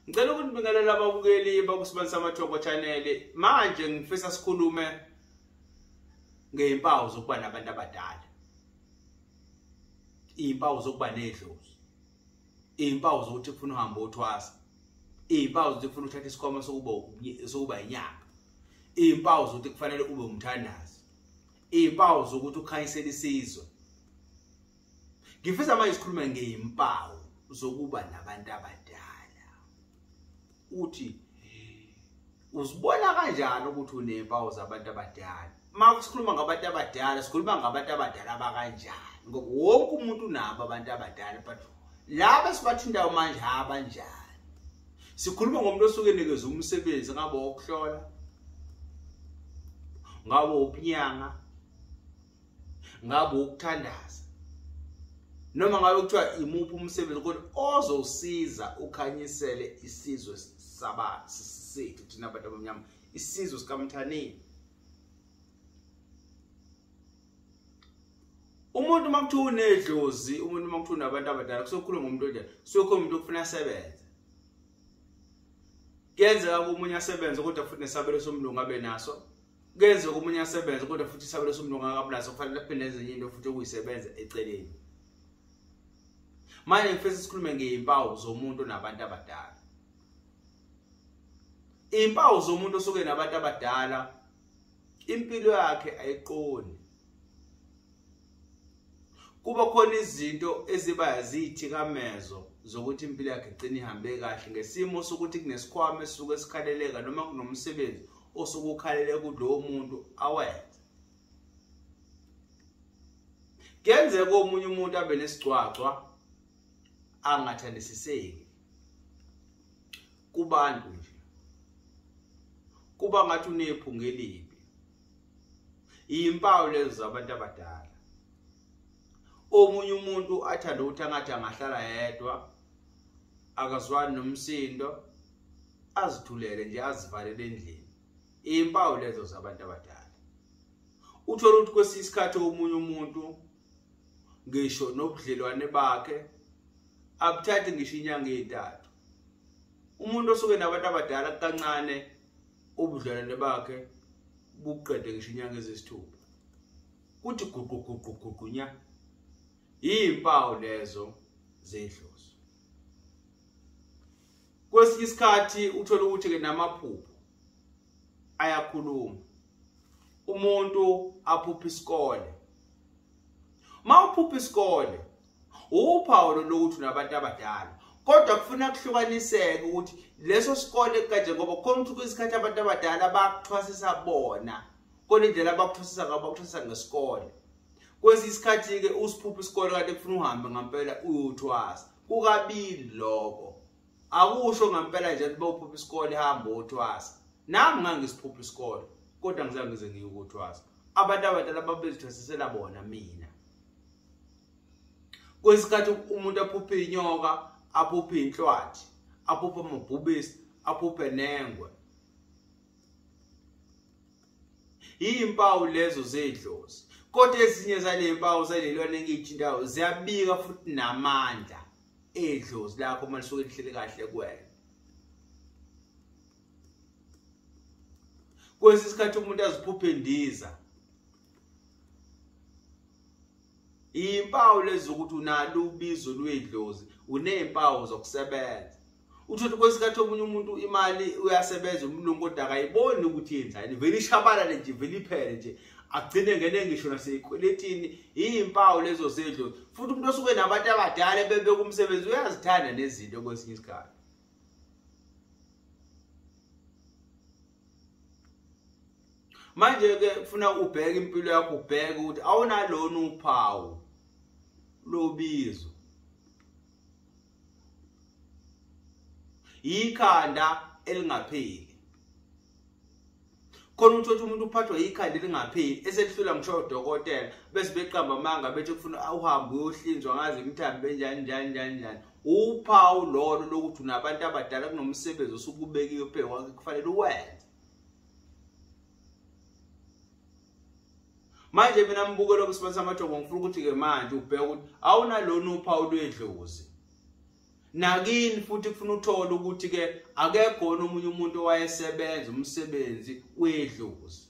Ngicela ukunibingelela ababukeli bakusibenzisa amathoko channel. Manje ngifisa sikhulume ngezimpawu zokuba nabantu abadala. Izimpawu zokuba nedlozi. Izimpawu zokuthi ufuna uhamba uthwasa. Izimpawu zokuthi ufuna uthatha isikhoma sokuba sokuba inyanga. Izimpawu zokuthi kufanele ube umthandazi. Izimpawu zokuthi ukhanyisela isizwe. ngifisa manje sikhulume ngey'mpawu zokuba nabantu abadala uthi uzibona kanjani ukuthi unempawu zabantu abadala uma sikhuluma ngabantu abadala sikhuluma ngabantu abadala abakanjani ngoba wonke umuntu unabo abantu abadala but laba esibathintayo manje abanjani sikhuluma ngomuntu osuke enikeza umsebenzi ngabe wokuhlola ngabe wobunyanga ngabe ukuthandaza noma ngabe kuthiwa imuphi umsebenzi kodwa ozosiza ukhanyisele isizwe saba sethu thina bantu abamnyama isizwe sikamthaneni umuntu uma kuthiwa unedlozi umuntu uma kuthiwa unabantu abadala kusokhuluma ngomuntu onjani kusokhuluma umuntu okufuna asebenze kuyenzeka komunye asebenze kodwa futhi nesabelo somlungu abe naso kuyenzeka omunye asebenze kodwa futhi isabelo somuntu ongakabulazi okufanele aphinde enze enye into futhi okuyisebenza eceleni manje ngifisa sikhulume ngey'mpawu zomuntu nabantu abadala iy'mpawu zomuntu osuke nabantu abadala impilo yakhe ayiqoni kuba khona izinto eziba ziyithikamezo zokuthi impilo yakhe igcine ihambe kahle ngesimo sokuthi kunesikhwama esuke sikhaleleka noma kunomsebenzi osuke ukhalele kulowo muntu awenze kuyenzeka omunye umuntu abe nesigcwagcwa angathandisiseki kubantu nje kuba ngathi unephunga elibi iyimpawu lezo zabantu abadala omunye umuntu athanda ukuthi angathi angahlala yedwa akazwani nomsindo azithulele nje azivalele endlini iyimpawu lezo zabantu abadala uthole ukuthi kwesinye isikhathi omunye umuntu ngisho nobudlelwane bakhe abuthathi ngisho inyanga ezintathu umuntu osuke nabantu abadala kancane ubudlelwane bakhe buqede ngisho inyanga ezisithupha kuthi guqu guqu guqu nya izimpawu lezo zedlozi kwesinye isikhathi uthole ukuthi-ke namaphupho ayakhuluma umuntu aphupha isikole mawuphupha isikole uphawu lokuthi unabantu abadala kodwa kufuna kuhlukaniseke ukuthi leso sikole kanje ngoba khona ukuthi kwisikhathi abantu abadala bakuthwasisa bona kona indlela abakuthwasisa ngabo bakuthwasisa ngesikole kwesinye isikhathi-ke usiphupha isikole kanti kufuna uhambe ngampela uyothwasa kukabili lokho akusho ngampela nje ukuthi bawuphupha isikole hamba uthwasa nami ngangisiphupha isikole kodwa ngizange ngize ngiyukuthwasa abantu abadala babezithwasisela bona mina kwesikhathi umuntu aphuphe inyoka aphuphe inhlwathi aphuphe amabhubesi aphuphe nengwe iyimpawu lezo zedlozi kodwa ezinye zalempawu zalelwane engiyithintayo ziyabika futhi namandla idlozi lakho uma lisuke lihleli kahle kuwena kwesinye isikhathi umuntu aziphuphe indiza impawu lezi ukuthi unalo ubizo lwedlozi uneempawu zokusebenza uthothe kwesikhathi omunye umuntu imali uyasebenza umlungu kodwa akayiboni ukuthi yenzani vele ishabalale nje vele iphele nje agcine ngene ngisho naseyikweletini iyimpawu lezo zedlo futhi umuntu osuke nabantu abadala ebebeka umsebenzi uyazithanda nezinto kwesinye isikhathi manje-ke kufuna ubheke impilo yakho ubheke ukuthi awunalona uphawu lobizo yikhanda elingapheli khona ukuthi othi umuntu uphathwa yikhanda elingapheli eselihlula ngisho udokotela bese beqamba amanga bethi kufuna uhambe uyohlinzwa ngazi imthambi benjani njani njani njani uphawu lolo lokuthi unabantu abadala kunomsebenzi osukubekiwe phezu kwakhe kufanele uwenze manje mina mbuke lokho sibonisa amathongo ngifuna ukuthi ke manje ubheke ukuthi awunalona uphawu lwedlozi nakini futhi kufuna uthole ukuthi ke akekhona omunye umuntu owayesebenza umsebenzi wedlozi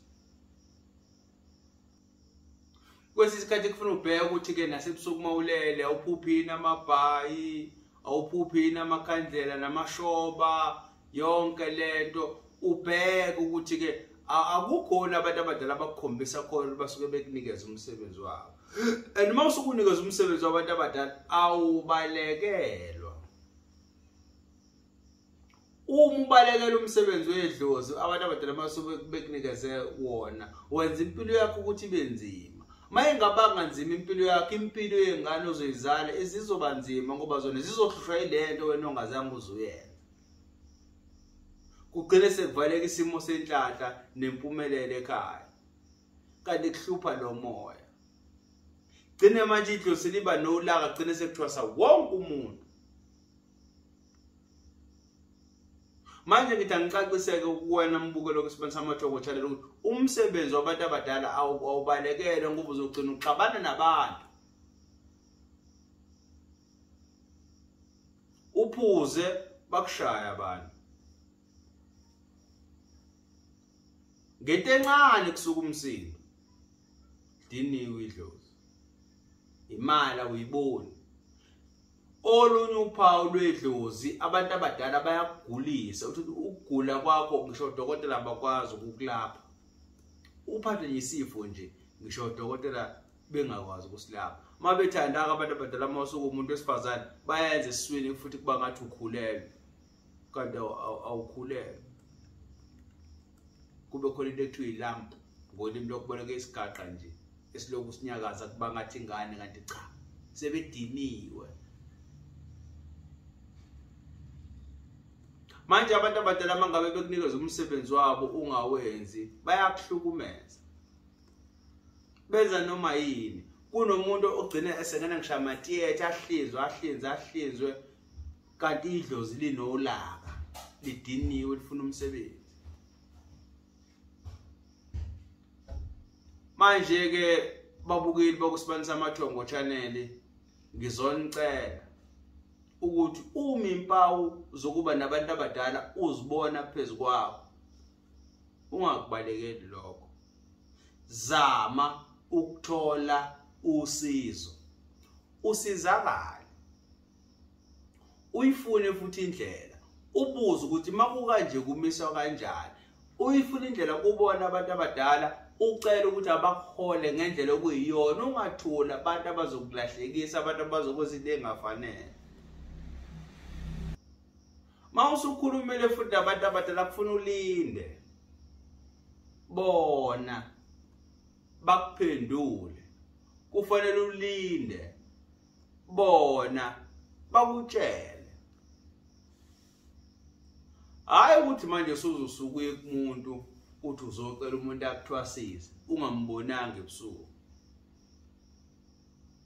kwesinye isikhathi kufuna ubheke ukuthi ke nasebusuku mawulele awuphuphini amabhayi awuphuphi yini amakhandlela namashoba yonke lento ubheke ukuthi ke akukhona abantu abadala abakukhombisa khona basuke bekunikeza umsebenzi wabo and uma usukunikeza umsebenzi wabantu abadala awubalekelwa uma ubalekela umsebenzi wedlozi abantu abadala masuke bekunikeze wona wenza impilo yakho ukuthi ibe nzima uma ingabanga nzima impilo yakho impilo yengane ozoyizala izizoba nzima ngoba zona zizohlushwa yile nto wena ongazange uzuyenza kugcine sekuvaleka isimo senhlanhla nempumelelo ekhaya kanti kuhlupha lo moya gcine manje idlosi liba nolaka gcine sekuthiwa sawonke umuntu manje ngithi angicaciseke kuwena mbukelo kwesibani samajoko channel ukuthi umsebenzi wabantu abadala awubalekele ngoba uzogcina uxabana nabantu uphuze bakushaya abantu ngento encane kusuka umsindo diniwe idlozi imali awuyiboni olunye uphawu lwedlozi abantu abadala bayagulisa uthi ukugula kwakho ngisho odokotela abakwazi ukukulapha uphathwe yisifo nje ngisho odokotela bengakwazi ukusilapha uma bethanda-ke abantu abadala uma usuke umuntu wesifazane bayenza esiswini futhi kuba ngathi ukhulelwe kanti awukhulelwe kube khona into ekuthiwa ilamp ngolimi lokuboleka isigaqa nje esilokhu sinyakaza kuba ngathi ingane kanti cha sebediniwe manje abantu abadala mangabe bekunikeza umsebenzi wabo ungawenzi bayakuhlukumeza benza noma yini kunomuntu ogcina esengena ngisho amatiyethe ahlinzwe ahlinzwe ahlinzwe kanti idlozi linolaka lidiniwe lifuna umsebenzi manje ke babukeli bakusibanisa amathongo channel ngizonicela ukuthi uma impawu zokuba nabantu abadala uzibona phezu kwawo ungakubalekeli lokho zama ukuthola usizo usizakala uyifune futhi indlela ubuze ukuthi makukanje kumiswa kanjani uyifuna indlela kubona abantu abadala ucela ukuthi abakuhole ngendlela okuyiyona ungathula abantu abazokulahlekisa abantu abazokwenza into engafanele ma usukhulumile futhi abantu abadala kufuna ulinde bona bakuphendule kufanele ulinde bona bakutshele hayi ukuthi manje suzosukuye kumuntu uthi uzocela umuntu akuthwasise ungambonanga ebusuku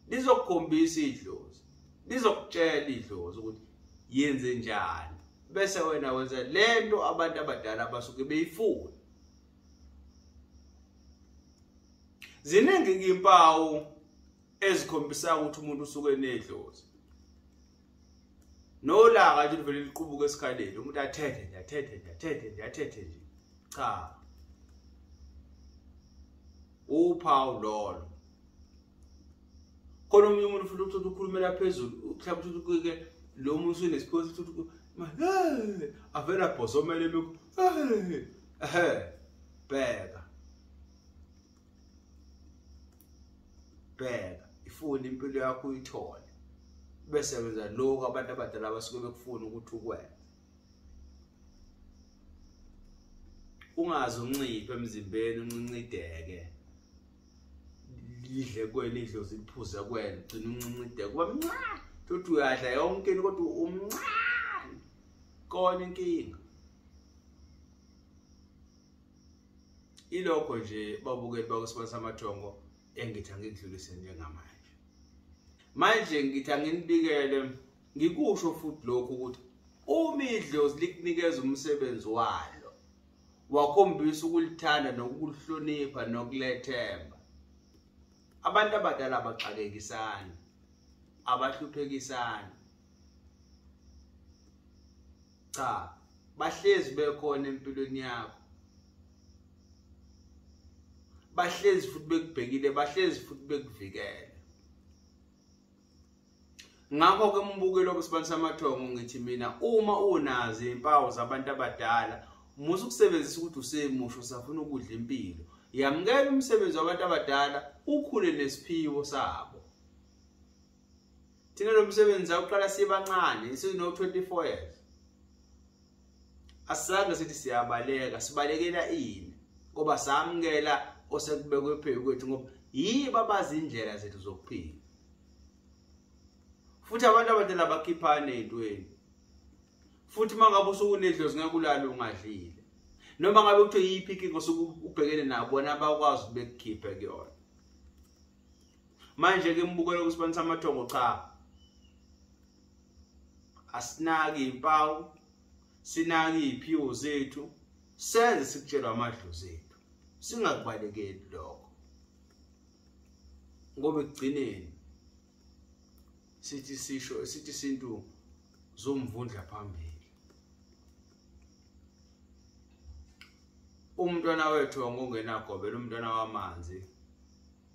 lizokukhombisa idlozi lizokutshela idlozi ukuthi yenze njani bese wena wenza lento abantu abadala abasuke beyifuna ziningi impawu ezikhombisayo ukuthi umuntu usuke enedlozi nolaka nje livele liqubuka esikhaleni umuntu athethe nje athethe nje athethe nje athethe nje cha uphawu lolo khona omunye umuntu futhi ukuthi ukhulumela phezulu mhlawumbe ukuthi kuke lo muntu usunesiphiwo sokuthi ukuthi avele abhozomele lokhu ehe bheka bheka ifuna impilo yakho uyithole bese wenza lokho abantu abadala abasuke bekufuna ukuthi ukwenze ungazi unciphe emzimbeni uncincideke lidle kwena idlozi liphuze kwena ugcina uncincideke kuba mncane thothi uyadla yonke into kodwa umncane kona inkinga ilokho nje babukeli bakwesibona samathongo engithi angikudlulise njengamanje manje ngithi anginibikele ngikusho futhi lokhu ukuthi uma idlozi likunikeza umsebenzi walo wakhombisa ukulithanda nokulihlonipha nokulethemba abantu abadala abaxakekisani abahluphekisani cha bahlezi bekhona empilweni yakho bahlezi futhi bekubhekile bahlezi futhi bekuvikele ngakho ke umbukelo wesibantu samathongo ngithi mina uma unazi impawu zabantu abadala musa ukusebenzisa ukuthi usemusho safuna ukudla impilo yamukela umsebenzi wabantu abadala ukhule nesiphiwo sabo thina lo msebenzi sawuqala sibancane sino-24 years asizange sithi siyabaleka sibalekela ini ngoba samukela osekubekwe phezu kwethu ngoba yibo abazi indlela zethu zokuphila futhi abantu abadala bakhiphane ey'ntweni futhi uma ngabe usuke unedlozi ngeke ulale ungadlile noma ngabe kuthiwa yiyiphi inkinga osuke ubhekene nabo bona bakwazi ukuthi bekukhiphe kuyona manje ke mbukela kusibani samathongo cha asinaki impawu sinaki iphiwo zethu senze sikutshelwa amadlozi ethu singakubalekeli lokho ngoba ekugcineni sithi sisho sithi isintu zomvundla phambili umntwana wethu wangongenagobela umntwana wamanzi